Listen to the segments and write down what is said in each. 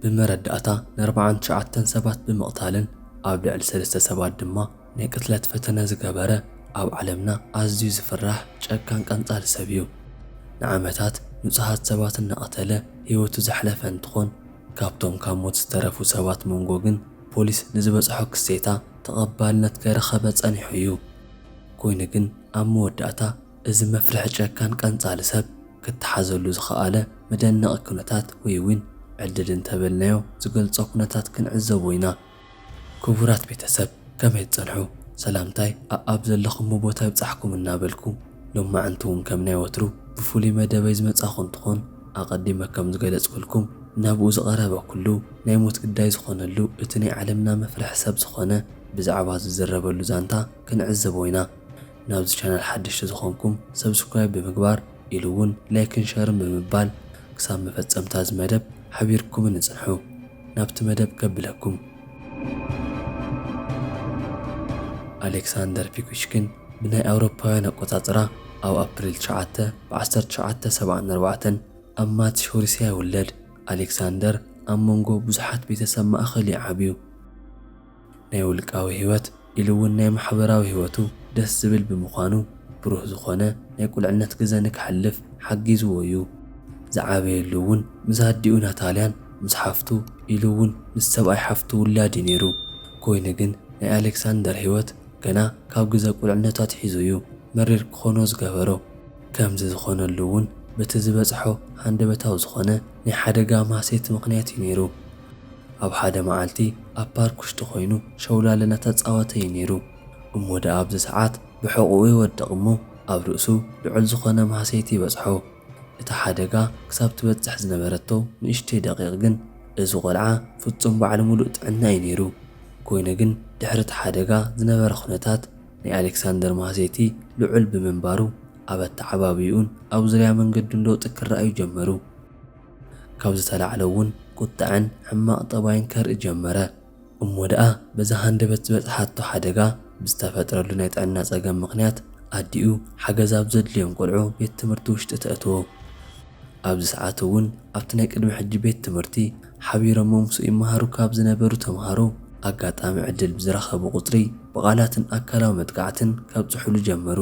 ብመረዳእታ ንኣርብዓን ትሽዓተን ሰባት ብምቕታልን ኣብ ልዕሊ ሰለስተ ሰባት ድማ ናይ ቅትለት ፈተነ ዝገበረ ኣብ ዓለምና ኣዝዩ ዝፍራሕ ጨካን ቀንጻሊ ሰብ እዩ። ንዓመታት ንጹሃት ሰባት እናቐተለ ህይወቱ ዘሕለፈ እንትኾን ካብቶም ካብ ሞት ዝተረፉ ሰባት መንጎ ግን ፖሊስ ንዝበጽሖ ክሴታ ተቐባልነት ከይረኸበ ጸኒሑ እዩ። ኮይኑ ግን ኣብ መወዳእታ እዚ መፍርሒ ጨካን ቀንጻሊ ሰብ ክተሓዘሉ ዝኸኣለ መደነቒ ኩነታት ወይ እውን ዕድል እንተበልናዮ ዝገልጾ ኩነታት ክንዕዘቦ ኢና። ክቡራት ቤተሰብ ከመይ ትጸንሑ? ሰላምታይ ኣኣብ ዘለኹሞ ቦታ ይብጻሕኩም እናበልኩ ሎማዕንቲ እውን ከም ናይ ወትሩ ብፍሉይ መደበይ ዝመጻኹ እንትኾን ኣቐዲመ ከም ዝገለጽኩልኩም ናብኡ ዝቐረበ ኩሉ ናይ ሞት ግዳይ ዝኾነሉ እቲ ናይ ዓለምና መፍርሒ ሰብ ዝኾነ ብዛዕባ ዝዝረበሉ ዛንታ ክንዕዘቦ ኢና። ናብዚ ቻናል ሓደሽቲ ዝኾንኩም ሰብስክራይብ ብምግባር ኢሉ እውን ላይክን ሸርን ብምባል ክሳብ መፈፀምታ እዚ መደብ ሓቢርኩምኒ ፅንሑ። ናብቲ መደብ ከብለኩም። ኣሌክሳንደር ፒኩሽኪን ብናይ ኣውሮፓውያን ኣቆፃፅራ ኣብ ኣፕሪል ትሽዓተ ብ ዓሰርተ ትሽዓተ ሰብዓን ኣርባዕተን ኣብ ማትሽ ሩስያ ይውለድ። ኣሌክሳንደር ኣብ መንጎ ብዙሓት ቤተሰብ ማእኸል እዩ ዓብዩ። ናይ ውልቃዊ ህይወት ኢሉ እውን ናይ ማሕበራዊ ህይወቱ ደስ ዝብል ብምዃኑ ብሩህ ዝኾነ ናይ ቁልዕነት ግዘ ንከሕልፍ ሓጊዝዎ እዩ። ዝዓበየሉ እውን ምስ ኣዲኡ ናታልያን ምስ ሓፍቱ ኢሉ እውን ምስ ሰብኣይ ሓፍቱ ውላድ እዩ ነይሩ። ኮይኑ ግን ናይ ኣሌክሳንደር ህይወት ገና ካብ ግዘ ቁልዕነቱ ኣትሒዙ እዩ መሪር ክኾኖ ዝገበሮ። ከምዚ ዝኾነሉ እውን በቲ ዝበፅሖ ሃንደበታዊ ዝኾነ ናይ ሓደጋ ማህሰይቲ ምኽንያት'ዩ ነይሩ። ኣብ ሓደ መዓልቲ ኣብ ፓርክ ውሽጢ ኮይኑ ሸውላል እናተጻወተ'ዩ ነይሩ። እሞ ደኣ ኣብዚ ሰዓት ብሕቝኡ ይወድቕ እሞ ኣብ ርእሱ ልዑል ዝኾነ ማህሰይቲ ይበጽሖ። እታ ሓደጋ ክሳብ ትበጽሕ ዝነበረቶ ንእሽተይ ደቒቕ ግን እዚ ቈልዓ ፍጹም በዓል ምሉእ ጥዕና'ዩ ነይሩ። ኮይኑ ግን ድሕሪ'ቲ ሓደጋ ዝነበረ ኵነታት ናይ ኣሌክሳንደር ማህሴቲ ልዑል ብምንባሩ፣ ኣብ ኣተዓባብይኡን ኣብ ዙርያ መንገዱን ለውጢ ክረኣዩ ጀመሩ። ካብ ዝተላዕለ'ውን ቁጠዐን ሕማቕ ጠባይን ከርኢ ጀመረ። እሞ ደኣ በዛ ሃንደበት ዝበጽሓቶ ሓደጋ፣ ብዝተፈጥረሉ ናይ ጥዕና ጸገም ምኽንያት፣ ኣዲኡ ሓገዝ ኣብ ዘድልዮም ቈልዑ ቤት ትምህርቲ ውሽጢ ተእትዎ። ኣብዚ ሰዓት'ውን ኣብቲ ናይ ቅድሚ ሕጂ ቤት ትምህርቲ፣ ሓቢሮሞ ምስኡ ይመሃሩ ካብ ዝነበሩ ተምሃሮ ኣጋጣሚ ዕድል ብዝረኸቡ ቁፅሪ ብቓላትን ኣካላዊ መጥቃዕትን ከብፅሑሉ ጀመሩ።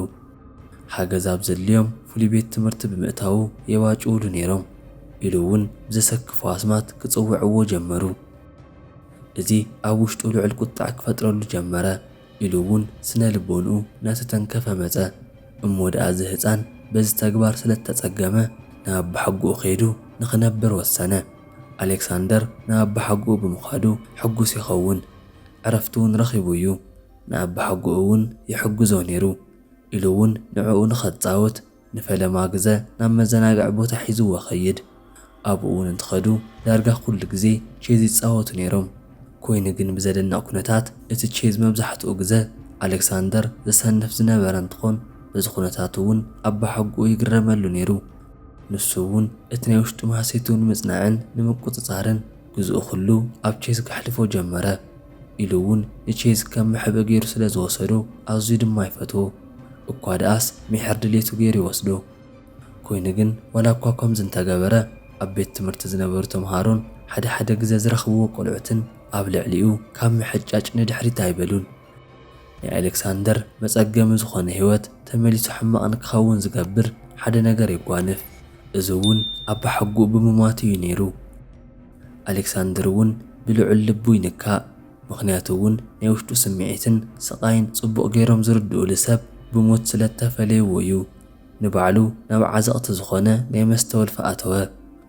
ሓገዝ ኣብ ዘድልዮም ፍሉይ ቤት ትምህርቲ ብምእታዉ የባጭዉሉ ነይሮም ኢሉ እዉን ብዘሰክፎ ኣስማት ክፅዉዕዎ ጀመሩ። እዚ ኣብ ዉሽጡ ልዑል ቁጠዐ ክፈጥረሉ ጀመረ። ኢሉ እውን ስነ ልቦንኡ እናተተንከፈ መፀ። እሞ ድኣ እዚ ህፃን በዚ ተግባር ስለ እተፀገመ ናብ ኣባሓጎኡ ከይዱ ንኽነብር ወሰነ። ኣሌክሳንደር ናብ ኣባሓጎኡ ብምኻዱ ሕጉስ ይኸውን። ዕረፍቲ እውን ረኺቡ እዩ። ንኣባሓጎኡ እውን ይሕግዞ ነይሩ። ኢሉ እውን ንዕኡ ንኸፃውት ንፈለማ ግዘ ናብ መዘናግዒ ቦታ ሒዝዎ ከይድ። ኣብኡ እውን እንትኸዱ ዳርጋ ኩሉ ግዜ ቼዝ ይፃወቱ ነይሮም። ኮይኑ ግን ብዘደንቕ ኩነታት እቲ ቼዝ መብዛሕትኡ ግዘ ኣሌክሳንደር ዘሰንፍ ዝነበረ እንትኾን በዚ ኩነታቱ እውን ኣባሓጎኡ ይግረመሉ ነይሩ። ንሱ እውን እቲ ናይ ውሽጡ ማህሰይቱ ንምፅናዕን ንምቁፅፃርን ግዝኡ ኩሉ ኣብ ቼዝ ከሕልፎ ጀመረ። ኢሉ እውን ንቼዝ ከም መሕብኢ ገይሩ ስለ ዝወሰዶ ኣዝዩ ድማ ይፈትዎ። እኳ ደኣስ ሚሕር ድሌቱ ገይሩ ይወስዶ። ኮይኑ ግን ዋላ እኳ ከምዚ እንተገበረ ኣብ ቤት ትምህርቲ ዝነበሩ ተምሃሮን ሓደ ሓደ ግዘ ዝረኽብዎ ቆልዑትን ኣብ ልዕሊኡ ካብ ምሕጫጭ ንድሕሪት ኣይበሉን። ናይ ኣሌክሳንደር መፀገሚ ዝኾነ ህይወት ተመሊሱ ሕማቕ ንክኸውን ዝገብር ሓደ ነገር የጓንፍ። እዚ እውን ኣባሓጉኡ ብምሟቱ እዩ ነይሩ። ኣሌክሳንድር ውን ብልዑል ልቡ ይንካእ ምኽንያቱ ውን ናይ ውሽጡ ስምዒትን ስቓይን ጽቡቕ ጌሮም ዝርድኡሉ ሰብ ብሞት ስለእተፈለዩዎ ዩ ንባዕሉ ናብ ዓዘቕቲ ዝኾነ ናይ መስተ ወልፊ ኣተወ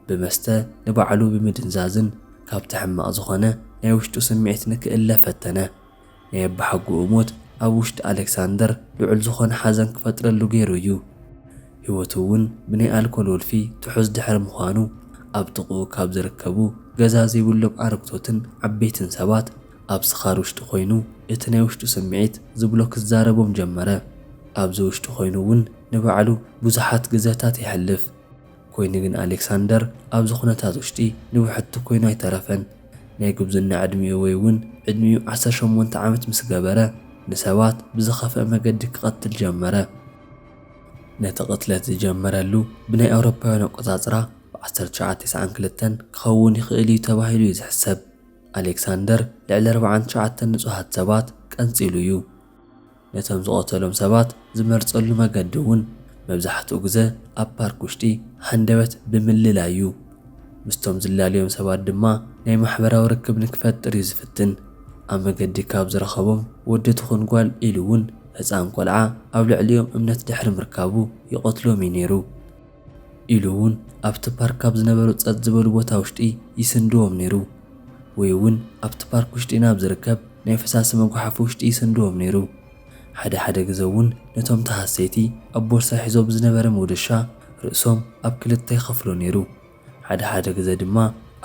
ብመስተ ንባዕሉ ብምድንዛዝን ካብቲ ሕማቕ ዝኾነ ናይ ውሽጡ ስምዒት ንክእለ ፈተነ ናይ ኣባሓጎኡ ሞት ኣብ ውሽጢ ኣለክሳንደር ልዑል ዝኾነ ሓዘን ክፈጥረሉ ገይሩ እዩ። ህይወቱ እውን ብናይ ኣልኮል ወልፊ ትሑዝ ድሕሪ ምዃኑ ኣብ ጥቕኡ ካብ ዝርከቡ ገዛ ዘይብሎም ኣረግቶትን ዓበይትን ሰባት ኣብ ስኻር ውሽጢ ኮይኑ እቲ ናይ ውሽጡ ስምዒት ዝብሎ ክዛረቦም ጀመረ። ኣብዚ ውሽጢ ኮይኑ እውን ንባዕሉ ብዙሓት ግዘታት የሕልፍ። ኮይኑ ግን ኣሌክሳንደር ኣብዚ ኩነታት ውሽጢ ንብሕቲ ኮይኑ ኣይተረፈን። ናይ ጉብዝና ዕድሚኡ ወይ እውን ዕድሚኡ ዓሰርተ ሸሞንተ ዓመት ምስ ገበረ ንሰባት ብዝኸፍኣ መገዲ ክቐትል ጀመረ። ነቲ ቅትለት ዝጀመረሉ ብናይ ኣውሮፓውያን ኣቆጻጽራ ብ ዓሰርተ ትሽዓተ ተስዓን ክልተን ክኸውን ይኽእል እዩ ተባሂሉ እዩ ዝሕሰብ። ኣሌክሳንደር ልዕሊ ኣርብዓን ትሽዓተን ንጹሃት ሰባት ቀንጺሉ እዩ። ነቶም ዝቐተሎም ሰባት ዝመርጸሉ መገዲ እውን መብዛሕትኡ ግዘ ኣብ ፓርክ ውሽጢ ሃንደበት ብምልላይ እዩ። ምስቶም ዝላለዮም ሰባት ድማ ናይ ማሕበራዊ ርክብ ንክፈጥር እዩ ዝፍትን። ኣብ መገዲ ካብ ዝረኸቦም ወዲ ትኹን ጓል ኢሉ እውን ህፃን ቆልዓ ኣብ ልዕሊኦም እምነት ድሕሪ ምርካቡ ይቐትሎም እዩ ነይሩ። ኢሉ እውን ኣብቲ ፓርክ ካብ ዝነበሩ ፀጥ ዝበሉ ቦታ ውሽጢ ይስንድዎም ነይሩ ወይ እውን ኣብቲ ፓርክ ውሽጢ ናብ ዝርከብ ናይ ፈሳሲ መጉሓፊ ውሽጢ ይስንድዎም ነይሩ። ሓደ ሓደ ግዘ እውን ነቶም ተሃሰይቲ ኣብ ቦርሳ ሒዞ ብዝነበረ መውደሻ ርእሶም ኣብ ክልተ ይኸፍሎ ነይሩ። ሓደ ሓደ ግዘ ድማ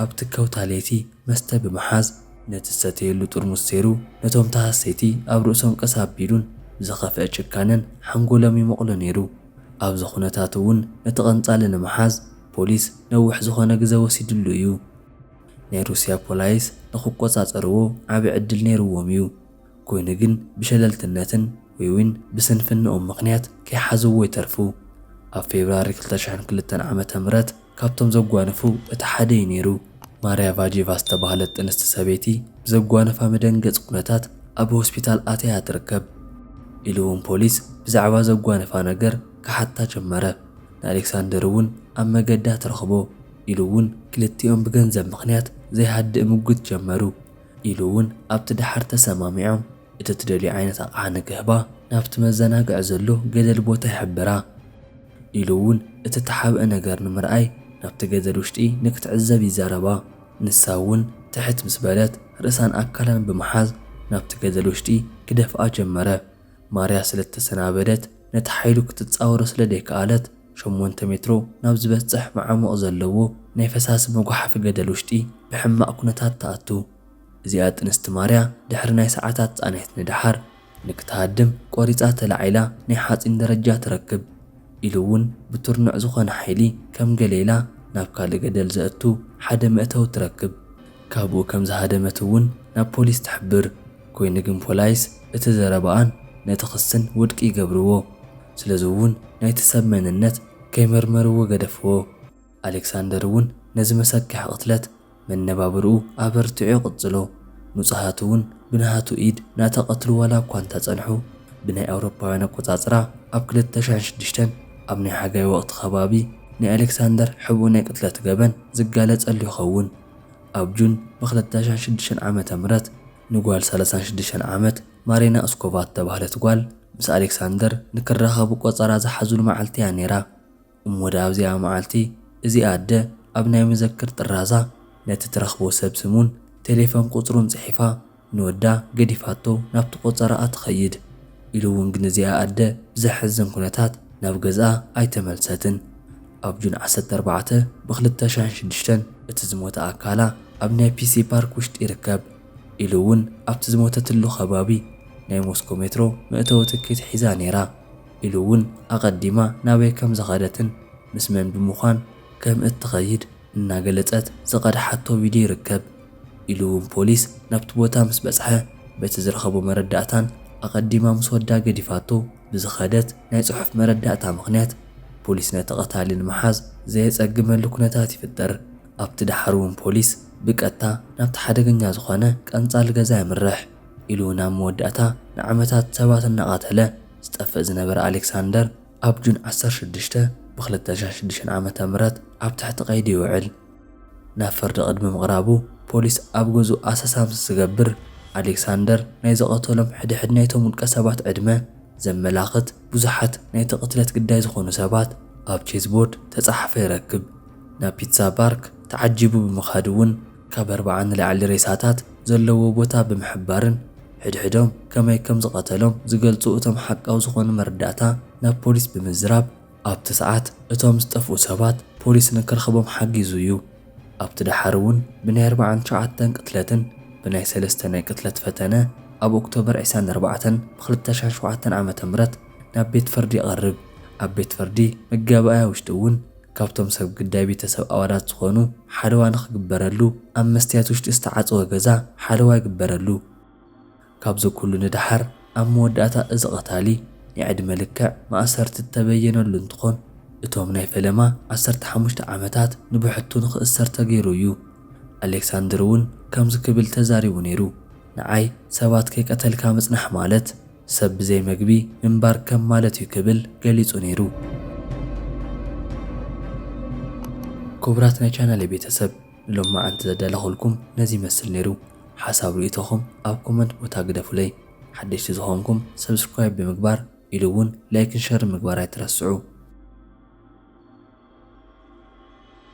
ኣብቲ ከውታ ለይቲ መስተ ብምሓዝ ነቲ ዝሰተየሉ ጥርሙስ ሰይሩ ነቶም ተሃሰይቲ ኣብ ርእሶም ቀስ ኣቢሉን ብዝኸፍአ ጭካነን ሓንጎሎም ይመቕሎ ነይሩ። ኣብዚ ኩነታት እውን ነቲ ቀንጻሊ ንምሓዝ ፖሊስ ነዊሕ ዝኾነ ግዘ ወሲድሉ እዩ። ናይ ሩስያ ፖላይስ ንክቆጻጸርዎ ዓቢ ዕድል ነይርዎም እዩ። ኮይኑ ግን ብሸለልትነትን ወይውን ብስንፍንኦም ምኽንያት ከይሓዝዎ ይተርፉ። ኣብ ፌብርዋሪ ክልተ ሽሕን ክልተን ዓመተ ምህረት፣ ካብቶም ዘጓነፉ እቲ ሓደ እዩ ነይሩ። ማርያ ቫጄቫ ዝተባህለት ጥንስቲ ሰበይቲ ብዘጓነፋ መደንገጺ ኩነታት ኣብ ሆስፒታል ኣትያ እያ ትርከብ። ኢሉ'ውን ፖሊስ ብዛዕባ ዘጓነፋ ነገር ክሓታ ጀመረ። ንኣሌክሳንደር'ውን ኣብ መገዳ ትረኽቦ። ኢሉ'ውን ክልቲኦም ብገንዘብ ምኽንያት ዘይሃድእ ምጉት ጀመሩ። ኢሉ'ውን ኣብቲ ደሓር ተሰማሚዖም። እቲ ትደልዮ ዓይነት ኣቕሓ ንክህባ ናብቲ መዘናግዒ ዘሎ ገደል ቦታ ይሕብራ። ኢሉ እውን እቲ እተሓብአ ነገር ንምርኣይ ናብቲ ገደል ውሽጢ ንክትዕዘብ ይዛረባ። ንሳ እውን ትሕት ምስ በለት ርእሳን ኣካላን ብምሓዝ ናብቲ ገደል ውሽጢ ክደፍኣ ጀመረ። ማርያ ስለ እተሰናበደት ነቲ ሓይሉ ክትጻወሮ ስለ ደይከኣለት ሸሞንተ ሜትሮ ናብ ዝበጽሕ መዓሙቕ ዘለዎ ናይ ፈሳሲ መጉሓፊ ገደል ውሽጢ ብሕማቕ ኩነታት ትኣቱ። እዚኣ ጥንስቲ ማርያ ድሕሪ ናይ ሰዓታት ጻንሒት ንደሓር ንክትሃድም ቆሪጻ ተላዒላ ናይ ሓጺን ደረጃ ትረክብ ኢሉ ውን ብትርኑዕ ዝኾነ ሓይሊ ከም ገለ ኢላ ናብ ካልእ ገደል ዘእቱ ሓደ መእተዊ ትረክብ ካብኡ ከም ዝሃደመት ውን ናብ ፖሊስ ትሕብር ኮይኑ ግን ፖላይስ እቲ ዘረባኣን ነቲ ክስን ውድቂ ይገብርዎ ስለዚ ውን ናይቲ ሰብ መንነት ከይመርመርዎ ገደፍዎ። ኣሌክሳንደር እውን ነዚ መሰክሕ ቕትለት መነባብርኡ ኣበርቲዑ ይቕጽሎ። ንጹሃት እውን ብናሃቱ ኢድ ናተቐትሉ ዋላ እኳ እንተጸንሑ፣ ብናይ ኣውሮፓውያን ኣቆጻጽራ ኣብ ክልተ ሽሕን ሽዱሽተን ኣብ ናይ ሓጋይ ወቕቲ ከባቢ ናይ ኣሌክሳንደር ሕቡእ ናይ ቅትለት ገበን ዝጋለጸሉ ይኸውን። ኣብ ጁን ብክልተ ሽሕን ሽዱሽተን ዓመተ ምህረት ንጓል ሰላሳን ሽዱሽተን ዓመት ማሪና እስኮቫ እተባህለት ጓል ምስ ኣሌክሳንደር ንክራኸቡ ቆጸራ ዝሓዙሉ መዓልቲ እያ ነይራ። እሞ ደኣ ኣብዚኣ መዓልቲ እዚኣ ኣደ ኣብ ናይ መዘክር ጥራዛ ነቲ ትረኽቦ ሰብ ስሙን ቴሌፈን ቁጽሩን ጽሒፋ ንወዳ ገዲፋቶ ናብቲ ቆጸራኣ ትኸይድ። ኢሉ እውን ግን እዚኣ ኣደ ብዘሕዝን ኩነታት ናብ ገዝኣ ኣይተመልሰትን። ኣብ ጁን ዓሰርተ ኣርባዕተ ብ ክልተ ሽሕን ሽዱሽተን እቲ ዝሞተ ኣካላ ኣብ ናይ ፒሲ ፓርክ ውሽጢ ይርከብ። ኢሉ እውን ኣብቲ ዝሞተትሉ ከባቢ ናይ ሞስኮ ሜትሮ መእተዊ ትኬት ሒዛ ነይራ። ኢሉ እውን ኣቐዲማ ናበይ ከም ዝኸደትን ምስ መን ብምዃን ከም እትኸይድ እናገለፀት ዝቐድሓቶ ቪድዮ ይርከብ። ኢሉ እውን ፖሊስ ናብቲ ቦታ ምስ በፅሐ በቲ ዝረኸቦ መረዳእታን ኣቐዲማ ምስ ወዳ ገዲፋቶ ብዝኸደት ናይ ፅሑፍ መረዳእታ ምኽንያት ፖሊስ ነቲ ቐታሊ ንምሓዝ ዘየፀግመሉ ኩነታት ይፍጠር። ኣብቲ ደሓር እውን ፖሊስ ብቀጥታ ናብቲ ሓደገኛ ዝኾነ ቀንፃሊ ገዛ የምርሕ። ኢሉ ናብ መወዳእታ ንዓመታት ሰባት እናቐተለ፣ ዝጠፍእ ዝነበረ ኣሌክሳንደር ኣብ ጁን ዓሰርተ ሽዱሽተ ብክልተ ሽሕ ሽዱሽተ ዓመተ ምህረት ኣብ ትሕቲ ቀይዲ ይውዕል። ናብ ፍርዲ ቅድሚ ምቕራቡ ፖሊስ ኣብ ገዝኡ ኣሰሳ ምስ ዝገብር፣ ኣሌክሳንደር ናይ ዝቐተሎም ሕድሕድ ናይቶም ውልቀሰባት ዕድመ ዘመላኽት ብዙሓት ናይቲ ቅትለት ግዳይ ዝኾኑ ሰባት ኣብ ቼዝቦርድ ተጻሓፈ ይረክብ። ናብ ፒትሳ ባርክ ተዓጂቡ ብምኻድ እውን ካብ ኣርባዓ ንላዕሊ ሬሳታት ዘለዎ ቦታ ብምሕባርን ሕድሕዶም ከመይ ከም ዝቐተሎም ዝገልጹ እቶም ሓቃዊ ዝኾኑ መረዳእታ ናብ ፖሊስ ብምዝራብ ኣብቲ ሰዓት እቶም ዝጠፍኡ ሰባት ፖሊስ ንክረኽቦም ሓጊዙ እዩ። ኣብቲ ደሓር እውን ብናይ ኣርባዓን ትሽዓተን ቅትለትን ብናይ ሰለስተ ናይ ቅትለት ፈተነ ኣብ ኦክቶበር ዕስራን ኣርባዕተን ብኽልተ ሽሕን ሸውዓተን ዓመተ ምህረት ናብ ቤት ፍርዲ ይቐርብ። ኣብ ቤት ፍርዲ መጋባእያ ውሽጢ እውን ካብቶም ሰብ ግዳይ ቤተሰብ ኣዋዳት ዝኾኑ ሓለዋ ንኽግበረሉ ኣብ መስትያት ውሽጢ ዝተዓፀወ ገዛ ሓለዋ ይግበረሉ። ካብዚ ኩሉ ንደሓር ኣብ መወዳእታ እዚ ቐታሊ ናይ ዕድመ ልክዕ ማእሰርቲ ዝተበየነሉ እንትኾን እቶም ናይ ፈለማ ዓሰርተ ሓሙሽተ ዓመታት ንብሕቱ ንኽእሰር ተገይሩ እዩ። ኣሌክሳንድር እውን ከምዚ ክብል ተዛሪቡ ነይሩ፣ ንዓይ ሰባት ከይቀተልካ ምፅናሕ ማለት፣ ሰብ ብዘይ መግቢ ምንባር ከም ማለት እዩ ክብል ገሊጹ ነይሩ። ክቡራት ናይ ቻናለይ ቤተሰብ ንሎማዓንቲ ዘዳለኹልኩም ነዚ ይመስል ነይሩ። ሓሳብ ርእይቶኹም ኣብ ኮመንት ቦታ ግደፉለይ። ሓደሽቲ ዝኾንኩም ሰብስክራይብ ብምግባር ኢሉ እውን ላይክን ሸርን ምግባር ኣይትረስዑ።